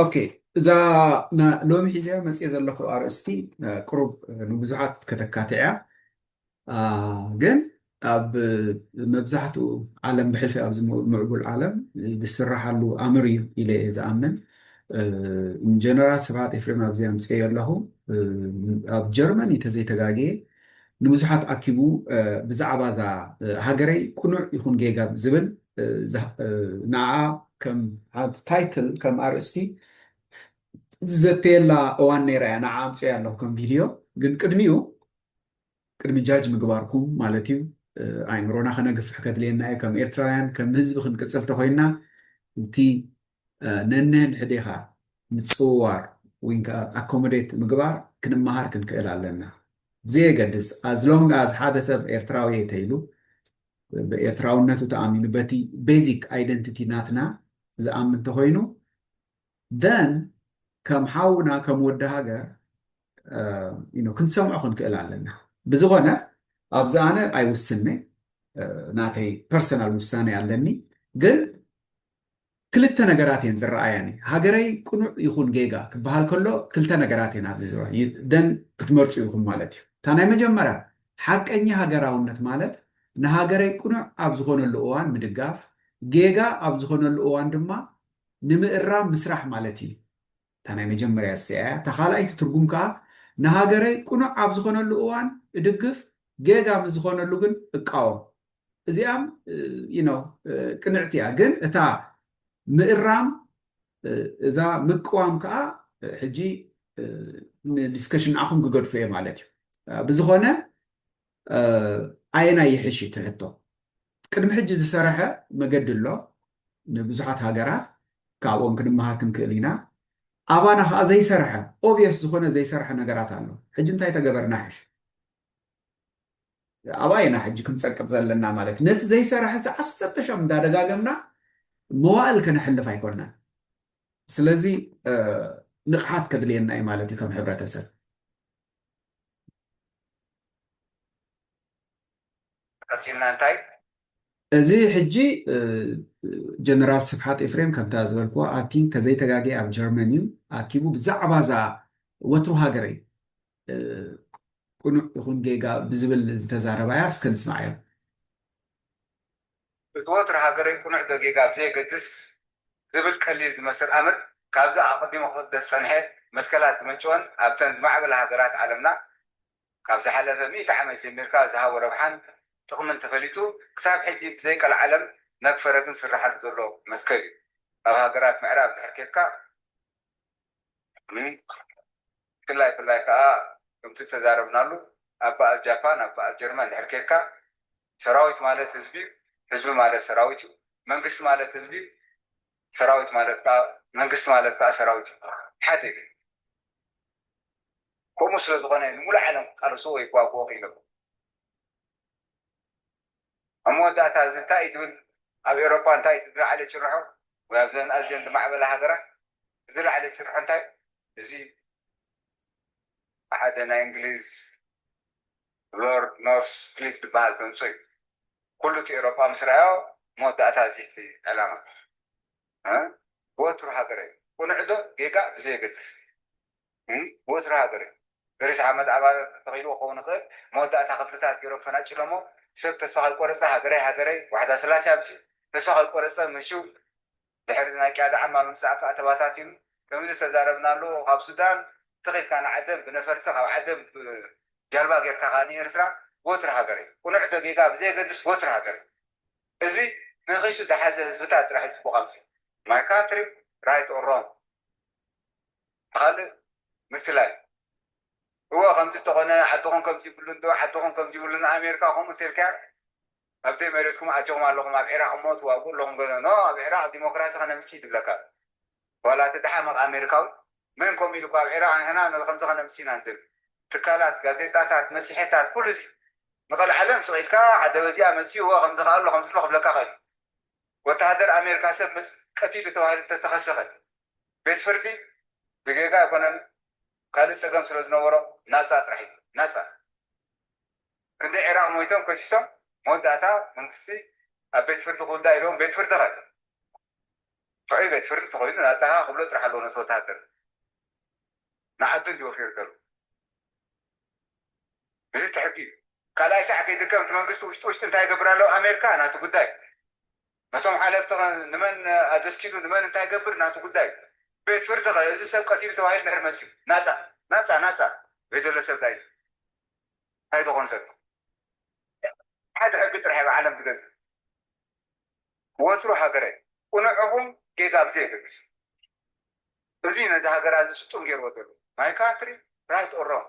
ኦኬ እዛ ሎሚ ሒዘያ መፅኤ ዘለኹ ኣርእስቲ ቅሩብ ንብዙሓት ከተካትዕ እያ ግን ኣብ መብዛሕትኡ ዓለም ብሕልፊ ኣብዚ ምዕቡል ዓለም ዝስራሓሉ ኣምር እዩ ኢለ እየ ዝኣምን ጀነራል ስብሓት ኤፍሬም ኣብዚ ኣምፅኤዮ ኣለኹ ኣብ ጀርመን እዩ ተዘይተጋግየ ንብዙሓት ኣኪቡ ብዛዕባ እዛ ሃገረይ ቁኑዕ ይኹን ጌጋ ዝብል ንዓ ከም ሓንቲ ታይትል ከም ኣርእስቲ ዝዘተየላ እዋን ነይራ እያ ንዓ ኣምፅኤ ኣለኹ ከም ቪድዮ ግን ቅድሚኡ ቅድሚ ጃጅ ምግባርኩም ማለት እዩ ኣእምሮና ከነግፍሕ ከድልየና እዩ ከም ኤርትራውያን ከም ህዝቢ ክንቅፅል ተኮይንና እቲ ነንሕድሕዴኻ ምጽውዋር ዊንከኣ ኣኮሞዴት ምግባር ክንመሃር ክንክእል ኣለና ብዘየገድስ as long as ሓደ ሰብ ኤርትራዊየ ተይሉ ብኤርትራውነቱ ተኣሚኑ በቲ basic identity ናትና ዝኣምን ተኾይኑ then ከም ሓውና ከም ወዲ ሃገር ክንሰምዖ ክንክእል ኣለና ብዝኾነ ኣብዚ ኣነ ኣይውስንይ ናተይ ፐርሰናል ውሳኔ ኣለኒ ግን ክልተ ነገራት እየን ዝረኣያኒ። ሃገረይ ቅኑዕ ይኹን ጌጋ ክበሃል ከሎ ክልተ ነገራት እየን ኣብዚ ዝረኣያ ደን ክትመርጹ ኢኹም ማለት እዩ። እታ ናይ መጀመርያ ሓቀኛ ሃገራውነት ማለት ንሃገረይ ቅኑዕ ኣብ ዝኾነሉ እዋን ምድጋፍ፣ ጌጋ ኣብ ዝኾነሉ እዋን ድማ ንምእራም ምስራሕ ማለት እዩ። እታ ናይ መጀመርያ እሲኣ እያ። እታ ካልኣይቲ ትርጉም ከኣ ንሃገረይ ቅኑዕ ኣብ ዝኾነሉ እዋን እድግፍ፣ ጌጋ ምስ ዝኾነሉ ግን እቃወም። እዚኣም ዩ ኖው ቅንዕቲ እያ ግን እታ ምእራም እዛ ምቅዋም ከዓ ሕጂ ንዲስከሽን ንኣኹም ክገድፎ እየ ማለት እዩ ብዝኾነ ኣየናይ ይሕሽ እዩ ትሕቶ ቅድሚ ሕጂ ዝሰረሐ መገዲ ኣሎ ንብዙሓት ሃገራት ካብኦም ክንመሃር ክንክእል ኢና ኣባና ከዓ ዘይሰርሐ ኦብየስ ዝኾነ ዘይሰርሐ ነገራት ኣሎ ሕጂ እንታይ ተገበርና ሕሽ ኣባይ ኢና ሕጂ ክንጸቅጥ ዘለና ማለት ነቲ ዘይሰራሐ ሰ ዓሰርተ ሻም እንዳደጋገምና መዋእል ከነሕልፍ ኣይኮናን ስለዚ ንቕሓት ከድልየና እዩ ማለት እዩ ከም ሕብረተሰብ ቀጺልና እንታይ እዚ ሕጂ ጀነራል ስብሓት ኤፍሬም ከምታ ዝበልክዎ ኣብቲ ከዘይተጋገየ ኣብ ጀርመን እዩ ኣኪቡ ብዛዕባ እዛ ወትሩ ሃገረይ ቅኑዕ ይኹን ጌጋ ብዝብል ዝተዛረባያ እስከ ንስምዓዮ። እቲ ወትሩ ሃገረይ ቅኑዕ ዶ ጌጋ ብዘየገድስ ዝብል ቀሊል ዝመስል ኣምር ካብዚ ኣቐዲሙ ክቕደስ ዝጸንሐ መትከላት ዝመንጨወን ኣብተን ዝማዕበላ ሃገራት ዓለምና ካብ ዝሓለፈ ሚእቲ ዓመት ጀሚርካ ዝሃቦ ረብሓን ጥቕምን ተፈሊጡ ክሳብ ሕጂ ብዘይቀልዓለም ነግ ፈረግን ዝስርሓሉ ዘሎ መትከል እዩ። ኣብ ሃገራት ምዕራብ እንድሕር ኬድካ፣ ሎሚ ብፍላይ ፍላይ ከኣ ከምቲ ዝተዛረብናሉ ኣብ በኣል ጃፓን ኣብ በኣል ጀርመን ድሕር ኬድካ ሰራዊት ማለት ህዝቢ ዩ ህዝቢ ማለት ሰራዊት ዩ መንግስቲ ማለት ህዝቢ ዩ ሰራዊት ማለት ከኣ መንግስቲ ማለት ከኣ ሰራዊት ዩ ሓደ ዩ ከምኡ ስለ ዝኾነ ንሙሉእ ዓለም ክቃለስዎ ይጓግኦ ክኢሎም። ኣብ መወዳእታ እዚ እንታይ እዩ ዝብል፣ ኣብ ኤውሮጳ እንታይ እዩ ዝለዓለ ጭርሖ ወይ ኣብዘን ኣዝየን ዝማዕበላ ሃገራት ዝለዓለ ጭርሖ እንታይ እዩ? እዚ ብሓደ ናይ እንግሊዝ ሎርድ ኖርስ ክሊፍ ዝበሃል ተምጽኦ እዩ። ኩሉ እቲ ኤውሮጳ ምስ ረኣዮ መወዳእታ እዚ እቲ ዕላማ ወትሩ ሃገረይ፣ ቅኑዕዶ ጌጋ ብዘየገድስ፣ ወትሩ ሃገር እዩ። በሪስ ዓመት ኣባላት ተተኺልዎ ክኸውን ይኽእል፣ መወዳእታ ክፍልታት ገይሮም ፈናጭሎሞ። ሰብ ተስፋ ከይቆረጸ ሃገረይ ሃገረይ ዋሕዳ ስላሴ ኣምጺኡ። ተስፋ ከይቆረጸ ምሽው ድሕሪ ናይ ቅያዳ ዓማ ምምጻእ ከኣ ተባታቲኑ። ከምዚ ዝተዛረብናሉ ካብ ሱዳን ትኽ ኢልካ ንዓደን ብነፈርቲ ካብ ዓደን ብጃልባ ገይርካ ከኣ ንኤርትራ ወትሩ ሃገር እዩ። ቅኑዕ ዶ ጌጋ ብዘየገድስ ወትሩ ሃገር እዩ። እዚ ንኺሱ ድሓዘ ህዝብታት ጥራሕ እዩ ጽቡቕ ኣምጺኡ። ማይ ካንትሪ ራይት ኦር ሮንግ። ካልእ ምፍላይ እወ ከምዚ እንተኾነ ሓድኹም ከምዚ ይብሉ እንዶ ሓድኹም ከምዚ ይብሉ ን ኣሜርካ ከምኡ እንተልካያ ኣብ ዘይ መሬትኩም ኣቲኹም ኣለኹም ኣብ ዒራቅ እሞ ትዋግኡ ኣለኹም ገለ ን ኣብ ዒራቅ ዲሞክራሲ ከነምጽእ ይድለካ ኣሎ ዋላ እቲ ደሓመቅ ኣሜርካዊ መን ከምኡ ኢሉካ ኣብ ዒራቅ ንሕና ነዚ ከምዚ ከነምጽእ ኢና ንደሊ ትካላት ጋዜጣታት መጺሔታት ኩሉ እዚ ንቀልዓለም ስቅ ኢልካ ሓደ በዚኣ መጺኡ እወ ከምዚ ከኣ ኣሎ ከምዚ ኣሎ ክብለካ ይኽእል እዩ ወተሃደር ኣሜርካ ሰብ መጺኡ ቀቲሉ ተባሂሉ እንተተኸሰኸ ቤት ፍርዲ ብጌጋ ኣይኮነን ካልእ ጸገም ስለ ዝነበሮ ናጻ ጥራሕ እዩ ናጻ። ክንደይ ዒራቕ ሞይቶም ከሲሶም መወዳእታ መንግስቲ ኣብ ቤት ፍርዲ ክውዳእ ኢሎም ቤት ፍርዲ ከ ጥዑይ ቤት ፍርዲ ተኾይኑ ናጻኻ ክብሎ ጥራሕ ኣለዎ ነቲ ወተሃደር ንዓዱ እንዲ ወፊሩ ደሉ እዚ ትሕጊ እዩ። ካልኣይ ሳዕ ከይድከም እቲ መንግስቲ ውሽጢ ውሽጢ እንታይ ይገብር ኣሎ ኣሜርካ ናቱ ጉዳይ ነቶም ሓለፍቲ ከ ንመን ኣገስኪሉ ንመን እንታይ ይገብር ናቱ ጉዳይ እዩ። ቤት ፍርዲ ከ እዚ ሰብ ቀቲሉ ተባሂሉ እንድሕር መጺኡ ናጻ ናጻ ናጻ ዘይደሎ ሰብ ዳይዚ እንታይ ዶኾን ሰብ ሓደ ሕጊ ጥራሕ እያ ዓለም ትገዝእ ወትሩ ሃገረይ ቁኑዕ እኹም ጌጋ ብዘይ የገድስ እዚ ነዚ ሃገራ እዚ ስጡም ጌርዎ ዘሎ ማይ ካንትሪ ራይት ኦር ሮንግ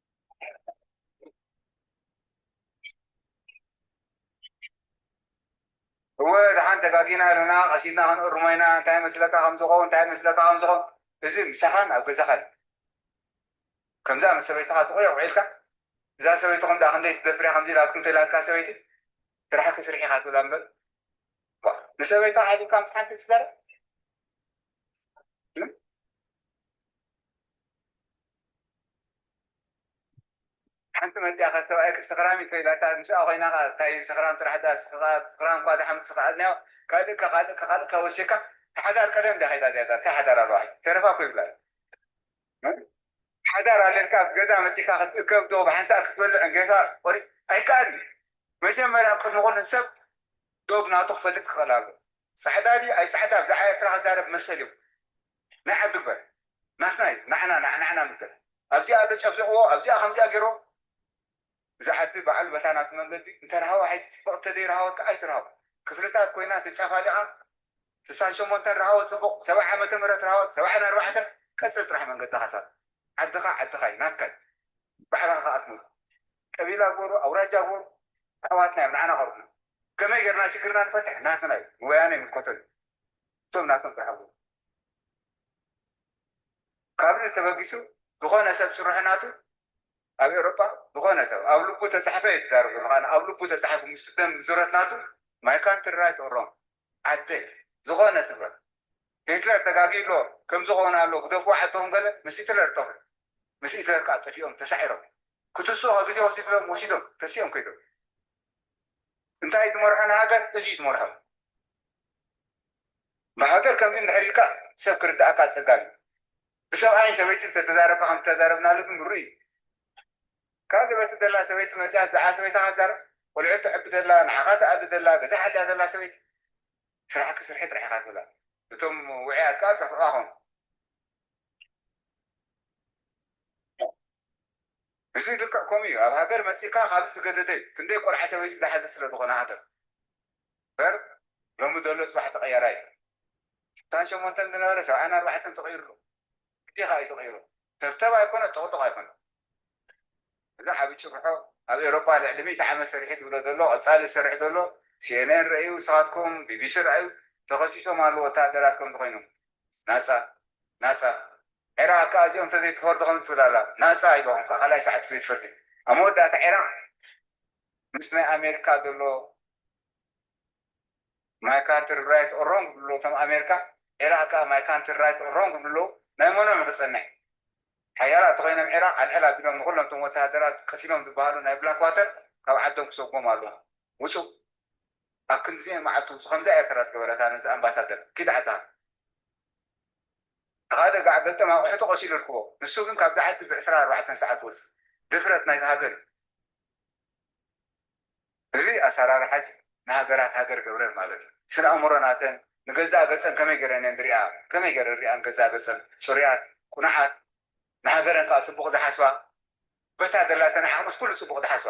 እወ ደሓን ተጋጊና ኢሉና ቀስ ኢልና ክንእርሞ ኢና እንታይ ይመስለካ ከም ዝኸውን እንታይ ይመስለካ ከም ዝኸውን እዚ ምሳኻን ኣብ ገዛኻን ከምዛ ምስ ሰበይትኻ ጥቑዕ ውዒልካ እዛ ሰበይትኹም ዳ ክንደይ ትደፍር እያ ከምዚ ኢላትኩም ተኢላትካ ሰበይቲ ስራሕኪ ስርሒ ኢኻ ትብላ እምበር ንሰበይታ ዓዲምካ ምስ ሓንቲ ትዛረብ ሓንቲ መጺኣ ከኣ ሰብኣይኪ ሰኽራም እዩ ተባሂላታ ኣብ ምስኣ ኮይና ከኣ እንታይ ሰኽራም ጥራሕ ድኣ እስኺ ከኣ ሰኽራም እኳ ድኣ ሓንቲ ዝኸኣልናዮ ካልእ ከ ካልእ ከ ካልእ ከ ወሲካ እታ ሓዳር ቀደም ድያ ከይዳ እዚኣ ጋል እንታይ ሓዳር ኣለዋ ሕጂ ተረፋ እኮ ይብላ ኣለዋ ሓዳር ኣለልካ ኣብ ገዛ መጺእካ ክትእከብ ዶ ብሓንሳእ ክትበልዕ ጌሳ ቆሪጽ ኣይከኣልን እዩ መጀመርያ ቅድሚ ኩሉ ሰብ ዶብ ናቱ ክፈልጥ ክኽእል ኣለዎ ጻዕዳ ድዩ ኣይጻዕዳ ብዛዕባ ኤርትራ ክዛረብ መሰል እዩ ናይ ዓዱ እበር ናትና እዩ ናዕና ናዕናዕና ምበር ኣብዚኣ ኣሎ ጨፍሊቅዎ ኣብዚኣ ከምዚኣ ገይርዎ እዛ ዓዲ ባዓሉ በታ ናቱ መንገዲ እንተ ረሃዋ ኣይትጽብቅ እንተ ደይ ረሃወት ካዓ ኣይትርሃው ክፍልታት ኮይና ተጫፋሊቃ ስሳን ሸሞንተን ረሃወት ጽቡቅ ሰብዓ ዓመተ ምህረት ረሃወት ሰብዓን ኣርባዕተን ቀጽል ጥራሕ መንገድካ ሳላ ዓድካ ዓድካ እዩ ናትካ እዩ ባዕልካ ካዓ ትመልኮ ቀቢላ ጎሩ ኣውራጃ ጎሩ ኣሕዋትና እዮም ናዓና ቀርቡና ከመይ ገርና ሽግርና ንፈትሕ ናትና እዩ ንወያነ ይምልከቶ እዩ እቶም ናቶም ክሕብሩ። ካብዚ ተበጊሱ ዝኾነ ሰብ ጭርሖ ናቱ ኣብ ኤውሮጳ ዝኾነ ሰብ ኣብ ልቡ ተጻሕፈ እዩ ዝዛረብ ዘሎ ካን ኣብ ልቡ ተጻሒፉ ምስ ደም ዙረት ናቱ ማይ ካንትሪ ራይት ኦር ሮንግ ዓደይ ዝኾነ ትብረ ሂትለር ተጋጊ ኣሎ ከምዚ ኾነ ኣሎ ግደፍዎ ዓድኹም ገለ ምስ ሂትለር ጠፍ ምስ ሂትለር ከዓ ጠፊኦም ተሳዒሮም ክትስኦ ግዜ ወሲድሎም ወሲዶም ተሲኦም ከይዶም እንታይ እዩ ዝመርሖ ንሃገር እዚ እዩ ዝመርሖ ብሃገር ከምዚ እንድሕር ኢልካ ሰብ ክርድኣካ ኣጸጋሚ እዩ ብሰብኣይን ሰበይትን እንተተዛረብካ ከምቲ ተዛረብናሉ ግን ምሩእ እዩ ካብ ዘበቲ ዘላ ሰበይቲ መጺኣ ብዛዕባ ሰበይታ ካዛረብ ቆልዑት ተዕቢ ዘላ ንዓኻ ትኣሊ ዘላ ገዛ ሓልያ ዘላ ሰበይቲ ስራሕኪ ስርሒ ጥራሕ ኢኻ ትብላ እቶም ውዕያት ከኣ ዝሰምዑኻ ኮኑ እዚ ልክዕ ከምኡ እዩ ኣብ ሃገር መጺእካ ካብዚ ዝገደደ እዩ ክንደይ ቆልዓ ሰበይቲ ዝሓዘት ስለ ዝኾነ ሃገር እምበር ሎሚ ዘሎ ጽባሕ ተቀያራይ እዩ ስሳን ሸሞንተን ዝነበረ ሰብዓን ኣርባዕተን ተቀይሩ ኣሎ ግዴኻ እዩ ተቀይሩ ተብተብ ኣይኮነ ጦቅጦቅ ኣይኮነ እዚ ዓቢ ጭርሖ ኣብ ኤሮፓ ልዕሊ ሚእቲ ዓመት ሰሪሑ ዝብሎ ዘሎ ቀጻሊ ዝሰርሕ ዘሎ ሲኤንኤን ረእዩ ንስኻትኩም ቢቢሲ ረኣዩ ተኸሲሶም ኣለዉ ወተሃደራት ከምዚ ኮይኖም ናጻ ናጻ ዒራቅ ክኣ እዚኦም ተዘይትፈርዱ ከምዚ ትብል ኣላ ናጻ ኢልዎም ክኣ ካልኣይ ሰዓት ቤት ፍርዲ ኣብ መወዳእታ ዒራቅ ምስ ናይ ኣሜርካ ዘሎ ማይ ካንትሪ ራይት ኦር ሮንግ ይብሉ ኣለዉ እቶም ኣሜርካ ዒራቅ ክኣ ማይ ካንትሪ ራይት ኦር ሮንግ ይብሉ ኣለዉ ናይ መኖም እዩ ክጸንሕ ሓያላት ተኾይኖም ዒራቅ ኣልዕል ኣቢሎም ንኹሎም እቶም ወተሃደራት ቀቲሎም ዝበሃሉ ናይ ብላክ ዋተር ካብ ዓዶም ክሰጉሞም ኣለዎም ውጹእ ኣብ ክንድዚ መዓልቱ ምስ ከምዛ ኤርትራ ዝገበረታ ነዚ ኣምባሳደር ኪድ ዓድኻ ተኻደ ጋዕ ገልጠም ኣቑሑቱ ቀሲሉ ርክቦ ንሱ ግን ካብዛ ዓዲ ብ ዕስራን ኣርባዕተን ሰዓት ወጽእ ድፍረት ናይዛ ሃገር እዩ እዚ ኣሰራርሓ እዚ ንሃገራት ሃገር ገብረን ማለት እዩ ስነ ኣእምሮ ናተን ንገዛእ ገጸን ከመይ ጌረን እየን ዝሪኣ ከመይ ጌረን ሪኣ ንገዛእ ገጸን ጽሩያት ቁኑዓት ንሃገረን ከኣ ጽቡቕ ዝሓስባ በታ ዘላተን ዓቕምስ ኩሉ ጽቡቕ ዝሓስባ።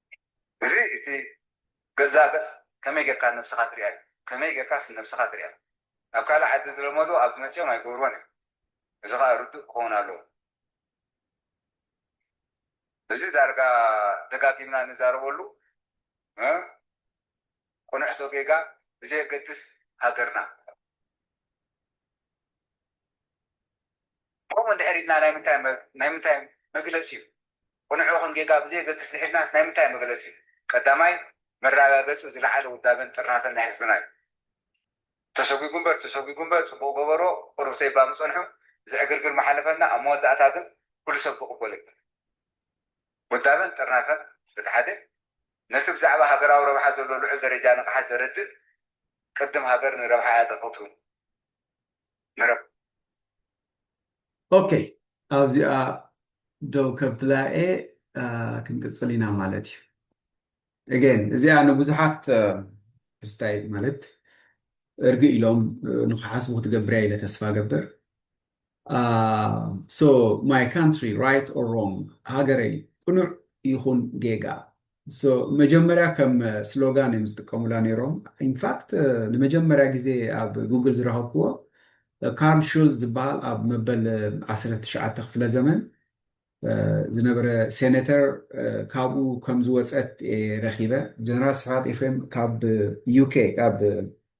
እዚ እቲ ገዛእ ገጽ ከመይ ጌርካ ነብስኻ ትሪኣ እዩ። ከመይ ጌርካስ ንነብስኻ ትሪኣ? ኣብ ካልእ ዓዲ ዝለመድዎ ኣብዚ መጺኦም ኣይገብርዎን እዮም። እዚ ኸኣ ርዱእ ክኸውን ኣለዎ። እዚ ዳርጋ ደጋጊምና ንዛረበሉ ቅኑዕ ዶ ጌጋ ብዘየገድስ ሃገርና ከምኡ እንድሕር ኢልና ናይ ምንታይ ናይ ምንታይ መግለጺ እዩ ቕኑዕ ይኹን ጌጋ ብዘየገድስ ንሒድናስ ናይ ምንታይ መግለጺ እዩ? ቀዳማይ መረጋገጺ ዝለዓለ ውዳበን ጥርናፈን ናይ ህዝብና እዩ። ተሰጒጉ እምበር ተሰጒጉ እምበር ጽቡቕ ገበሮ ቕሩብ ተይባ ምጸንሑ እዚ ዕግርግር ምሓለፈና ኣብ መወዳእታ ግን ኩሉ ሰብ ክቕበሎ እዩ። ውዳበን ጥርናፈን በቲ ሓደ ነቲ ብዛዕባ ሃገራዊ ረብሓ ዘሎ ልዑል ደረጃ ንቕሓት ዘረድእ ቅድም ሃገር ንረብሓ እያ ተፈትው፣ መረብ። ኦኬ ኣብዚኣ ደው ከብላኤ ክንቅፅል ኢና ማለት እዩ እገን እዚኣ ንብዙሓት ክስታይ ማለት እርግ ኢሎም ንክሓስቡ ክትገብርያ ኢለ ተስፋ ገበር ሶ ማይ ካንትሪ ራይት ኦር ሮንግ ሃገረይ ቅኑዕ ይኹን ጌጋ So መጀመርያ ከም ስሎጋን እዮም ዝጥቀሙላ ነይሮም። In fact ንመጀመርያ ግዜ ኣብ Google ዝረኸብክዎ ካርል ሹልዝ ዝበሃል ኣብ መበል ዓሰርተ ትሽዓተ ክፍለ ዘመን ዝነበረ ሴነተር ካብኡ ከም ዝወጸት እየ ረኺበ። ጀነራል ስብሓት ኤፍሬም ካብ UK ካብ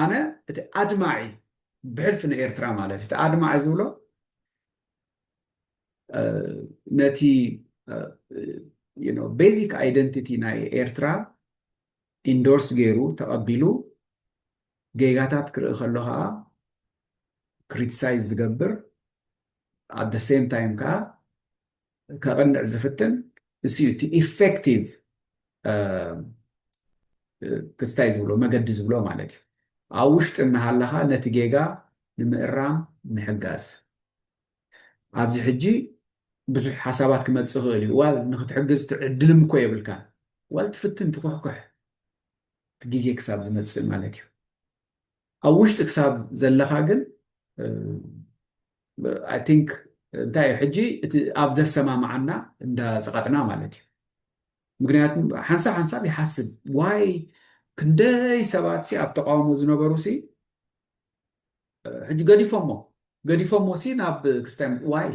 ኣነ እቲ ኣድማዒ ብሕልፊ ንኤርትራ ማለት እቲ ኣድማዒ ዝብሎ ነቲ ቤዚክ ኣይደንቲቲ ናይ ኤርትራ ኢንዶርስ ገይሩ ተቐቢሉ ጌጋታት ክርኢ ከሎ ከዓ ክሪቲሳይዝ ዝገብር ኣብ ደ ሴም ታይም ከዓ ከቕንዕ ዝፍትን እሱ እዩ እቲ ኢፌክቲቭ ክስታይ ዝብሎ መገዲ ዝብሎ ማለት እዩ ኣብ ውሽጢ እናሃለኻ ነቲ ጌጋ ንምእራም ምሕጋዝ ኣብዚ ሕጂ ብዙሕ ሓሳባት ክመፅእ ይኽእል እዩ ዋል ንክትሕግዝ ትዕድልም እኮ የብልካን ዋል ትፍትን ትኩሕኩሕ እቲ ግዜ ክሳብ ዝመፅእ ማለት እዩ ኣብ ውሽጢ ክሳብ ዘለኻ ግን ኣይ ቲንክ እንታይ እዩ ሕጂ እቲ ኣብ ዘሰማምዓና እንዳፀቐጥና ማለት እዩ ምክንያቱ ሓንሳብ ሓንሳብ ይሓስብ ዋይ ክንደይ ሰባት ሲ ኣብ ተቃውሞ ዝነበሩ ሲ ሕጂ ገዲፎሞ ገዲፎሞ ሲ ናብ ክርስቲያን ዋይ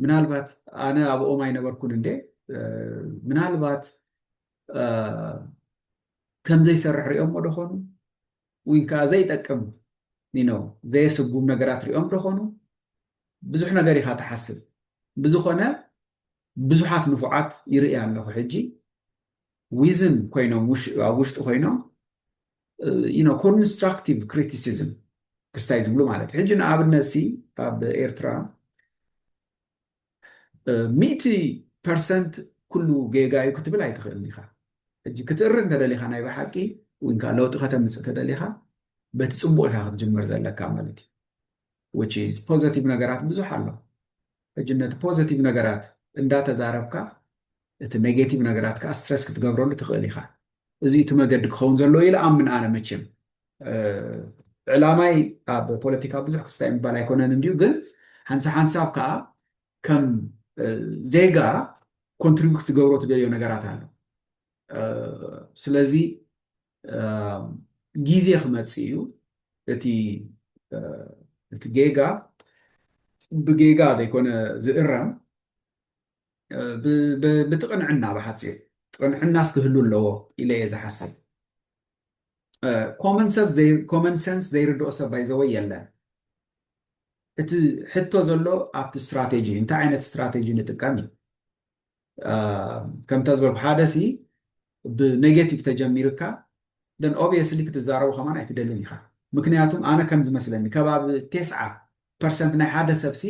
ምናልባት ኣነ ኣብኦም ኣይነበርኩን እንዴ ምናልባት ከምዘይሰርሕ ሪኦሞ ዶኾኑ ወይ ከዓ ዘይጠቅም ነው ዘየስጉም ነገራት ሪኦም ዶኾኑ ብዙሕ ነገር ኢኻ ትሓስብ ብዝኾነ ብዙሓት ንፉዓት ይርእያ ኣለኹ ሕጂ ዊዝን ኮይኖም ኣብ ውሽጢ ኮይኖም ኮንስትራክቲቭ ክሪቲሲዝም ክስታይ ዝብሉ ማለት ሕጂ ንኣብነትሲ ኣብ ኤርትራ ሚእቲ ፐርሰንት ኩሉ ጌጋ እዩ ክትብል ኣይትኽእልን ኢኻ ሕጂ ክትእሪ እንተደሊኻ ናይ ብሓቂ ወይንካ ለውጢ ከተምፅእ ተደሊኻ በቲ ፅቡቅ ኢኻ ክትጅምር ዘለካ ማለት እዩ which is positive ነገራት ብዙሕ ኣሎ ሕጂ ነቲ positive ነገራት እንዳተዛረብካ እቲ negative ነገራት ከዓ stress ክትገብረሉ ትኽእል ኢኻ እዚ እቲ መገዲ ክኸውን ዘለዎ ኢለ ኣምን ኣነ መቸም ዕላማይ ኣብ ፖለቲካ ብዙሕ ክስታይ ምባል ኣይኮነን እንዲዩ ግን ሓንሳ ሓንሳብ ከዓ ከም ዜጋ ኮንትሪቢዩት ክትገብሮ ትደልዮ ነገራት ኣሎ ስለዚ ግዜ ክመፅእ እዩ እቲ እቲ ጌጋ ብጌጋ ዘይኮነ ዝእረም ብቲ ቅንዕና ብሓፂር ቅንዕናስ ክህሉ ኣለዎ ኢለ እየ ዝሓስብ ኮመን ሰብ ኮመን ሰንስ ዘይርድኦ ሰብ ባይዘወ የለን እቲ ሕቶ ዘሎ ኣብቲ ስትራቴጂ እንታይ ዓይነት ስትራቴጂ ንጥቀም እዩ ከምታ ዝበልኩ ሓደ ሲ ብኔጌቲቭ ተጀሚርካ ደን ኦብየስሊ ክትዛረቡ ከማን ኣይትደልን ኢኻ ምክንያቱም ኣነ ከም ዝመስለኒ ከባቢ ቴስዓ ፐርሰንት ናይ ሓደ ሰብ ሲ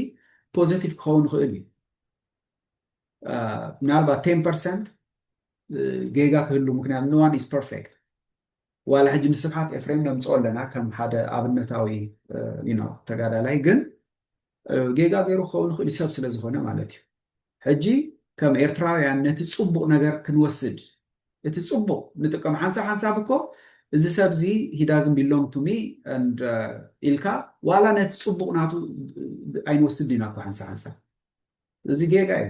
ፖዘቲቭ ክኸውን ይኽእል እዩ ምናልባት ቴን ፐርሰንት ጌጋ ክህሉ ምክንያቱ ንዋን ኢዝ ፐርፌክት ዋላ ሕጂ ንስብሓት ኤፍሬም ነምጽኦ ኣለና ከም ሓደ ኣብነታዊ you know ተጋዳላይ ግን ጌጋ ገይሩ ክኸውን ይኽእል እዩ ሰብ ስለ ዝኾነ ማለት እዩ ሕጂ ከም ኤርትራውያን ነቲ ጽቡቕ ነገር ክንወስድ እቲ ጽቡቕ ንጥቀም ሓንሳብ ሓንሳብ እኮ እዚ ሰብ እዚ ሂዳዝን ቢሎንግ ቱ ሚ ኢልካ ዋላ ነቲ ፅቡቅ ናቱ ኣይንወስድ ኢና እኮ ሓንሳ ሓንሳ እዚ ጌጋ እዩ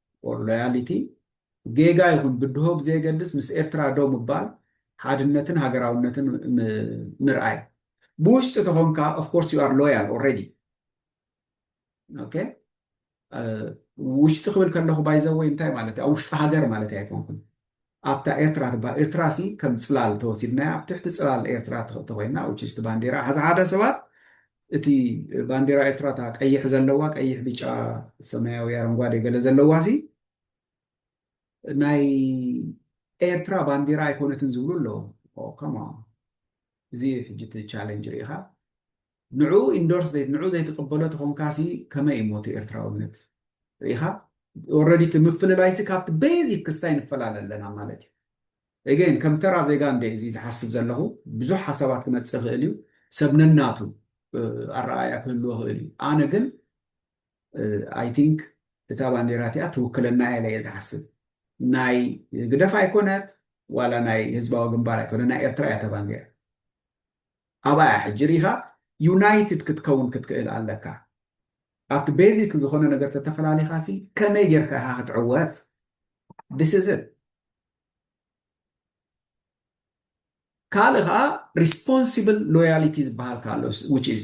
or loyality ጌጋ ይኹን ብድሆ ብዘየገድስ ምስ ኤርትራ ደው ምባል ሓድነትን ሃገራውነትን ምርኣይ ብውሽጢ ተኾንካ of course you are loyal already ኦኬ ውሽጢ ክብል ከለኹ ባይዘወይ እንታይ ማለት ኣብ ውሽጢ ሃገር ማለት ኣይኮንኩን ኣብታ ኤርትራ ትብሃል ኤርትራሲ ከም ጽላል ተወሲድናያ ኣብ ትሕቲ ጽላል ኤርትራ ተኾይና which is እቲ ባንዴራ ሓዛ ሓዳ ሰባት እቲ ባንዴራ ኤርትራ እታ ቀይሕ ዘለዋ ቀይሕ ቢጫ ሰማያዊ ኣረንጓዴ ገለ ዘለዋሲ ናይ ኤርትራ ባንዴራ ኣይኮነትን ዝብሉ ኣለዉ ኦ come on እዚ እዩ ሕጂ እቲ ቻለንጅ ርኢኻ ንዕኡ ኢንዶርስ ዘይ ንዕኡ ዘይትቅበሎ ተኾንካሲ ከመይ እዩ ሞት ኤርትራውነት ርኢኻ ኦረዲ እቲ ምፍልላይሲ ካብቲ ቤዚክ ክስታይ ንፈላለ ኣለና ማለት እዩ ኤገይን ከም ተራ ዜጋ እንደ እዚ ዝሓስብ ዘለኹ ብዙሕ ሓሳባት ክመጽእ ይኽእል እዩ ሰብ ነናቱ ኣረኣእያ ክህልዎ ይኽእል እዩ ኣነ ግን ኣይ ቲንክ እታ ባንዴራ እቲኣ ትውክለና እያ ኢለ እየ ዝሓስብ ናይ ህግደፍ ኣይኮነት ዋላ ናይ ህዝባዊ ግንባር ኣይኮነ ናይ ኤርትራ እያ እታ ባንዴራ ኣብኣ እያ ሕጂ ሪኢኻ ዩናይትድ ክትከውን ክትክእል ኣለካ ኣብቲ ቤዚክ ዝኾነ ነገር ተተፈላሊኻ ሲ ከመይ ጌርካ ኢኻ ክትዕወት this is it ካልእ ከዓ ሪስፖንሲብል ሎያሊቲ ዝበሃል ኣሎ which is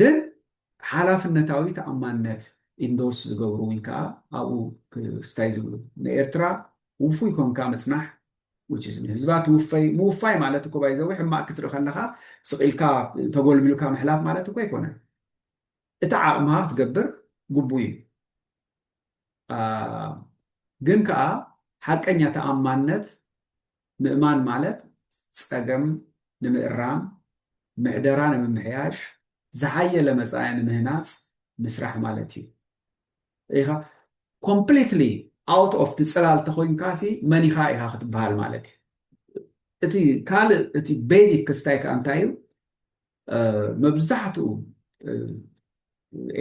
ግን ሓላፍነታዊ ተኣማንነት ኢንዶርስ ዝገብሩ ውን ከኣ ኣብኡ ክስታይ ዝብሉ ንኤርትራ ውፉይ ኮንካ ምጽናሕ which is ንህዝባ ትውፈይ ምውፋይ ማለት እኮ ባይ ዘወይ ሕማቅ ክትርኢ ከለኻ ስቅ ኢልካ ተጎልቢልካ ምሕላፍ ማለት እኮ ኣይኮነን እቲ ዓቅምኻ ክትገብር ግቡእ እዩ ግን ከኣ ሓቀኛ ተኣማንነት ምእማን ማለት ጸገም ንምእራም፣ ምሕደራ ንምምሕያሽ፣ ዝሓየለ መጻኢ ንምህናጽ ምስራሕ ማለት እዩ። ርኢኻ ኮምፕሊትሊ ኣውት ኦፍ እቲ ጽላል ተኾይንካሲ መን ኢኻ ኢኻ ክትበሃል ማለት እዩ። እቲ ካልእ እቲ ቤዚክ ክስታይ ከኣ እንታይ እዩ መብዛሕትኡ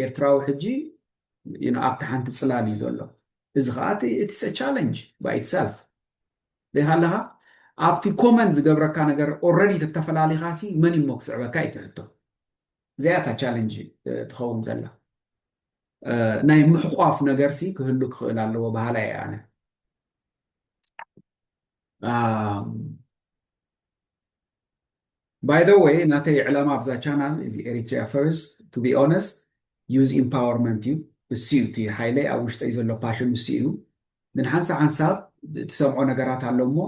ኤርትራዊ ሕጂ ኣብታ ሓንቲ ጽላል እዩ ዘሎ እዚ ከዓ እቲ ቻለንጅ ባይ ኢትሰልፍ ደይሃለኻ ኣብቲ ኮመን ዝገብረካ ነገር ኦረዲ ተተፈላሊኻ ሲ መን እሞ ክስዕበካ እዩ ትሕቶ እዚኣ እታ ቻለንጅ ትኸውን ዘላ ናይ ምሕቋፍ ነገር ሲ ክህሉ ክኽእል ኣለዎ በሃላ እየ ኣነ ባይ ዘ ወይ ናተይ ዕላማ ኣብዛ ቻናል እዚ ኤሪትሪያ ፈርስት ቱ ቢ ኦነስት ዩዝ ኢምፓወርመንት እዩ እሱ እዩ እቲ ሓይለይ ኣብ ውሽጠይ ዘሎ ፓሽን እሱ እዩ ግን ሓንሳ ሓንሳብ ትሰምዖ ነገራት ኣሎ እሞ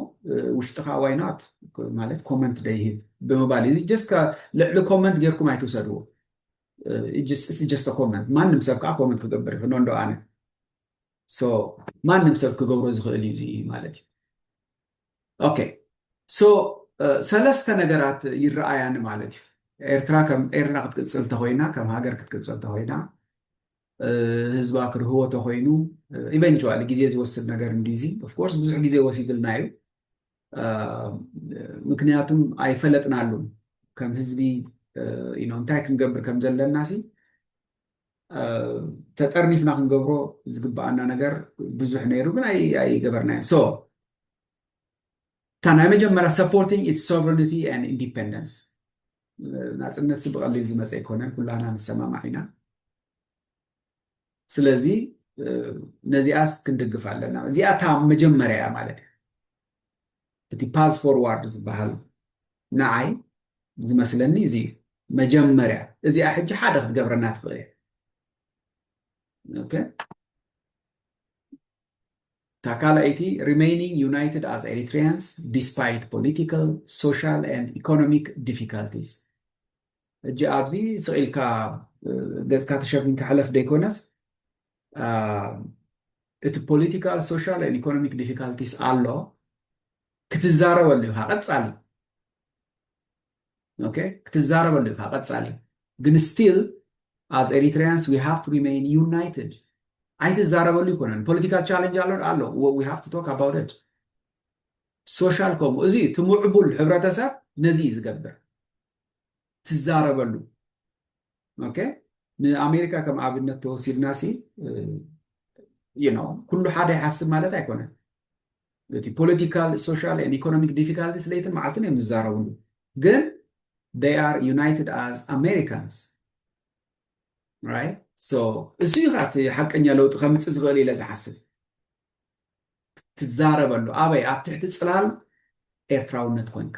ውሽጥኻ ዋይ ናት ማለት ኮመንት ደይህብ ብምባል እዩ እዚ ጀስት ልዕሊ ኮመንት ጌርኩም ኣይትውሰድዎ ስ ጀስት ኮመንት ማንም ሰብ ከዓ ኮመንት ክገብር ይኽእል እንዶ ኣነ ማንም ሰብ ክገብሮ ዝኽእል እዩ ማለት እዩ ኦኬ ሶ ሰለስተ ነገራት ይረኣያኒ ማለት እዩ ኤርትራ ከም ኤርትራ ክትቅጽል ተኾይና ከም ሃገር ክትቅጽል ተኾይና ህዝባ ክርህዎ ተኾይኑ ኢቨንቹዋሊ ግዜ ዝወስድ ነገር እንዲ እዚ ኦፍኮርስ ብዙሕ ግዜ ወሲድልና እዩ ምክንያቱም ኣይፈለጥናሉን ከም ህዝቢ እንታይ ክንገብር ከም ዘለና ሲ ተጠርኒፍና ክንገብሮ ዝግብኣና ነገር ብዙሕ ነይሩ ግን ኣይገበርናዮ ሶ እታ ናይ መጀመርያ ሰፖርቲንግ ኢትስ ሶቨርኒቲ ን ኢንዲፐንደንስ ናፅነት ብቐሊል ዝመፀ ኣይኮነን ኩላና ንሰማማዕ ኢና ስለዚ ነዚኣስ ክንድግፍ ኣለና እዚኣ እታ መጀመርያ እያ ማለት እዩ እቲ ፓዝ ፎርዋርድ ዝበሃል ንዓይ ዝመስለኒ እዚ እዩ መጀመርያ እዚኣ ሕጂ ሓደ ክትገብረና ትኽእል እያ ኦኬ እታ ካልኣይቲ ሪሜይኒንግ ዩናይትድ ኣዝ ኤሪትሪያንስ ዲስፓይት ፖሊቲካል ሶሻል ኤንድ ኢኮኖሚክ ዲፊካልቲስ ሕጂ ኣብዚ ስቅ ኢልካ ገጽካ ተሸፊንካ ሕለፍ ደይኮነስ እቲ ፖሊቲካል ሶሻል ኤንድ ኢኮኖሚክ ዲፊካልቲስ ኣሎ ክትዛረበሉ ኢኻ ቀጻሊ ኦኬ ክትዛረበሉ ኢኻ ቀጻሊ ግን ስቲል as Eritreans we have to remain united ኣይትዛረበሉ ይኮነን ፖለቲካል ቻለንጅ ኣሎ ኣሎ we have to talk about it ሶሻል ከምኡ እዚ እቲ ምዕቡል ሕብረተሰብ ነዚ እዩ ዝገብር ትዛረበሉ ኦኬ ንኣሜሪካ ከም ኣብነት ተወሲድና ሲ ኩሉ ሓደ ይሓስብ ማለት ኣይኮነን እቲ ፖለቲካል ሶሻል ን ኢኮኖሚክ ዲፊካልቲስ ለይትን መዓልትን እዮም ዝዛረብሉ ግን ይ ኣር ዩናይትድ ኣዝ ኣሜሪካንስ እሱ ዩ ከ ሓቀኛ ለውጢ ከምፅእ ዝኽእል ኢለ ዝሓስብ ትዛረበሉ ኣበይ ኣብ ትሕቲ ፅላል ኤርትራውነት ኮንካ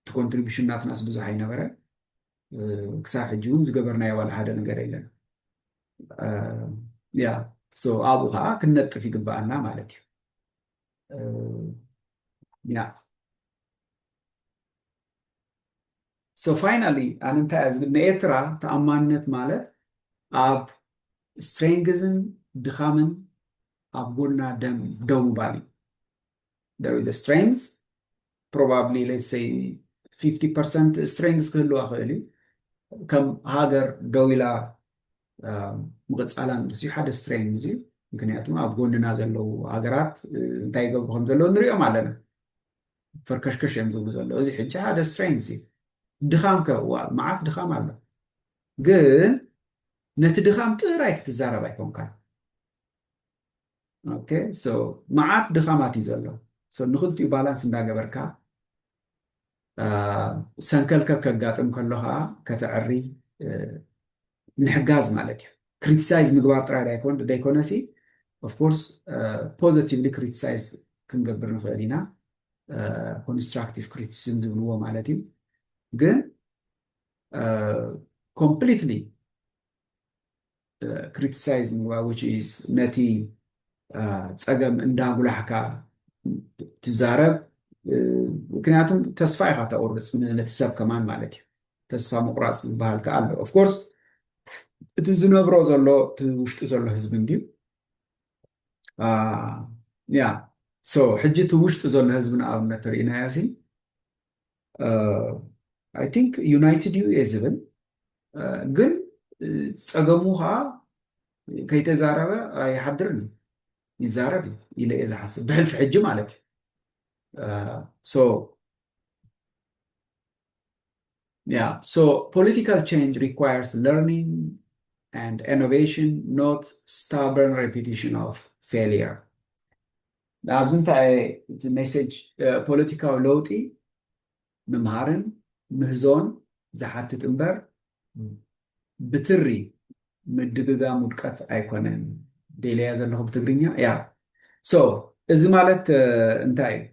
እቲ ኮንትሪቡሽን ናትናስ ብዙሕ ኣይነበረን። ክሳብ ሕጂ እውን ዝገበርናዮ ዋላ ሓደ ነገር የለን። ያ ኣብኡ ከዓ ክንነጥፍ ይግበኣና ማለት እዩ። ያ ሶ ፋይናሊ ኣነ እንታይ እያ ዝብል ንኤርትራ ተኣማንነት ማለት ኣብ ስትሬንግዝን ድኻምን ኣብ ጎና ደም ደው ምባል እዩ። there is a strength probably let's say 50% strength ክህልዋ ክእል እዩ ከም ሃገር ደው ኢላ ምቕፃላን ርሲ ሓደ ስትሬንግ እዩ ምክንያቱ ኣብ ጎንና ዘለዉ ሃገራት እንታይ ይገብሩ ከም ዘለዉ ንሪኦም ኣለና ፈርከሽከሽ እዮም ዝብሉ ዘለዉ እዚ ሕጂ ሓደ ስትሬንግ እዩ ድኻም ከ መዓት ድኻም ኣሎ ግን ነቲ ድኻም ጥራይ ክትዛረብ ኣይኮንካን ኦኬ ሶ መዓት ድኻማት እዩ ዘሎ ሶ ንክልቲኡ ባላንስ እንዳገበርካ ሰንከልከል ከጋጥም ከሎ ከዓ ከተዕሪ ምሕጋዝ ማለት እዩ ክሪቲሳይዝ ምግባር ጥራይ ደይኮነሲ ኦፍኮርስ ፖዘቲቭሊ ክሪቲሳይዝ ክንገብር ንኽእል ኢና ኮንስትራክቲቭ ክሪቲሲዝም ዝብልዎ ማለት እዩ ግን ኮምፕሊትሊ ክሪቲሳይዝ ምግባር which is ነቲ ፀገም እንዳጉላሕካ ትዛረብ ምክንያቱ ተስፋ ኢኻ ተቑርፅ ነቲ ሰብ ከማን ማለት እዩ ተስፋ ምቑራፅ ዝበሃል ከዓ ኣሎ ኦፍኮርስ እቲ ዝነብሮ ዘሎ እቲ ውሽጡ ዘሎ ህዝቢ እንድዩ ያ ሶ ሕጂ እቲ ውሽጡ ዘሎ ህዝቢ ንኣብነት ተርእናዮ ሲ ኣይ ቲንክ ዩናይትድ እዩ እየ ዝብል ግን ፀገሙ ከዓ ከይተዛረበ ኣይሓድርን እዩ ይዛረብ እዩ ኢለ እየ ዝሓስብ ብሕልፊ ሕጂ ማለት እዩ ያ ሶ ፖለቲካል ቼንጅ ሪኳየርስ ለርኒንግ and innovation, not stubborn repetition of failure. ኣብዚ እንታይ እየ እቲ ሜሴጅ ፖለቲካዊ ለውጢ ምምሃርን ምህዞን ዝሓትት እምበር ብትሪ ምድግጋም ውድቀት ኣይኮነን ደልያ ዘለኹ ብትግርኛ ያ ሶ እዚ ማለት እንታይ እዩ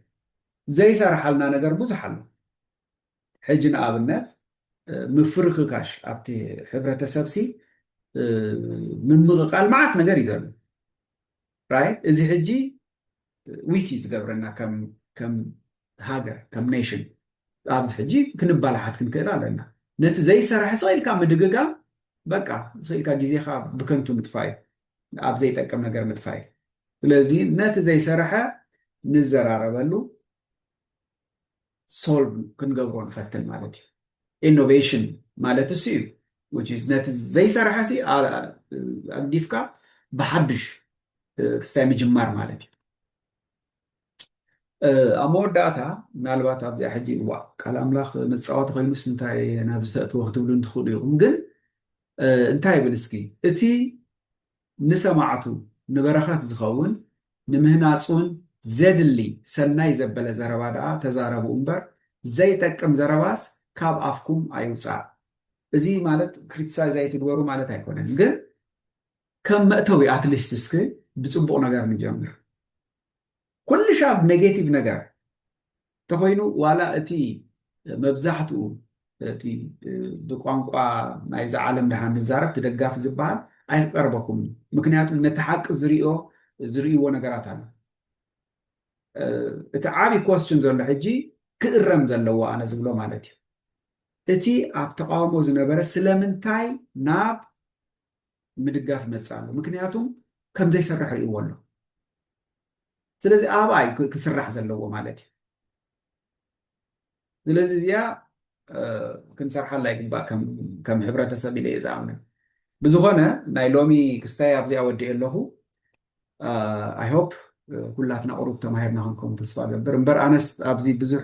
ዘይሰራሓልና ነገር ብዙሕ ኣሎ ሕጂ ንኣብነት ምፍርክካሽ ኣብቲ ሕብረተሰብሲ ምምቕቓል መዓት ነገር እዩ ዘሎ ራይት እዚ ሕጂ ዊክ እዩ ዝገብረና ከም ሃገር ከም ኔሽን ኣብዚ ሕጂ ክንባላሓት ክንክእል ኣለና ነቲ ዘይሰራሕ ስኢልካ ምድግጋም በቃ ስኢልካ ግዜኻ ብከንቱ ምጥፋይ ኣብ ዘይጠቅም ነገር ምጥፋይ ስለዚ ነቲ ዘይሰረሐ ንዘራረበሉ ሶልቭ ክንገብሮ ንፈትን ማለት እዩ። ኢኖቬሽን ማለት እሱ እዩ። ነቲ ዘይሰራሕሲ ኣግዲፍካ ብሓዱሽ ክስታይ ምጅማር ማለት እዩ። ኣብ መወዳእታ ምናልባት ኣብዚኣ ሕጂ እዋ ቃል ኣምላኽ መጻወቲ ኮይኑስ እንታይ ናብ ዝተእትወ ክትብሉ እንትኽእሉ ኢኹም። ግን እንታይ ይብል እስኪ እቲ ንሰማዕቱ ንበረኸት ዝኸውን ንምህናጽውን ዜድሊ ሰናይ ዘበለ ዘረባ ደኣ ተዛረቡ እምበር ዘይጠቅም ዘረባስ ካብ ኣፍኩም ኣይውጻእ። እዚ ማለት ክሪቲሳይዝ ኣይትግበሩ ማለት ኣይኮነን ግን ከም መእተዊ ኣትሊስት እስኪ ብጽቡቕ ነገር ንጀምር። ኩልሻብ ነጌቲቭ ነገር ተኾይኑ ዋላ እቲ መብዛሕትኡ እቲ ብቋንቋ ናይዛ ዓለም ድሓን ንዛረብ እቲ ደጋፊ ዝበሃል ኣይክቀርበኩምን እዩ ምክንያቱም ነቲ ሓቂ ዝሪኦ ዝርእይዎ ነገራት ኣሎ እቲ ዓብይ ኮስችን ዘሎ ሕጂ ክእረም ዘለዎ ኣነ ዝብሎ ማለት እዩ እቲ ኣብ ተቃውሞ ዝነበረ ስለምንታይ ናብ ምድጋፍ መጽኣ ኣሎ ምክንያቱም ከምዘይሰርሕ ርእይዎ ኣሎ ስለዚ ኣብኣይ ክስራሕ ዘለዎ ማለት እዩ ስለዚ እዚኣ ክንሰርሓላ ይግባእ ከም ሕብረተሰብ ኢለ እየ ዝኣምን ብዝኾነ ናይ ሎሚ ክስታይ ኣብዚኣ ወዲኤ ኣለኹ ኣይሆፕ ኩላትና ቁሩብ ተማሂርና ክንከውን ተስፋ ገብር እምበር ኣነስ ኣብዚ ብዙሕ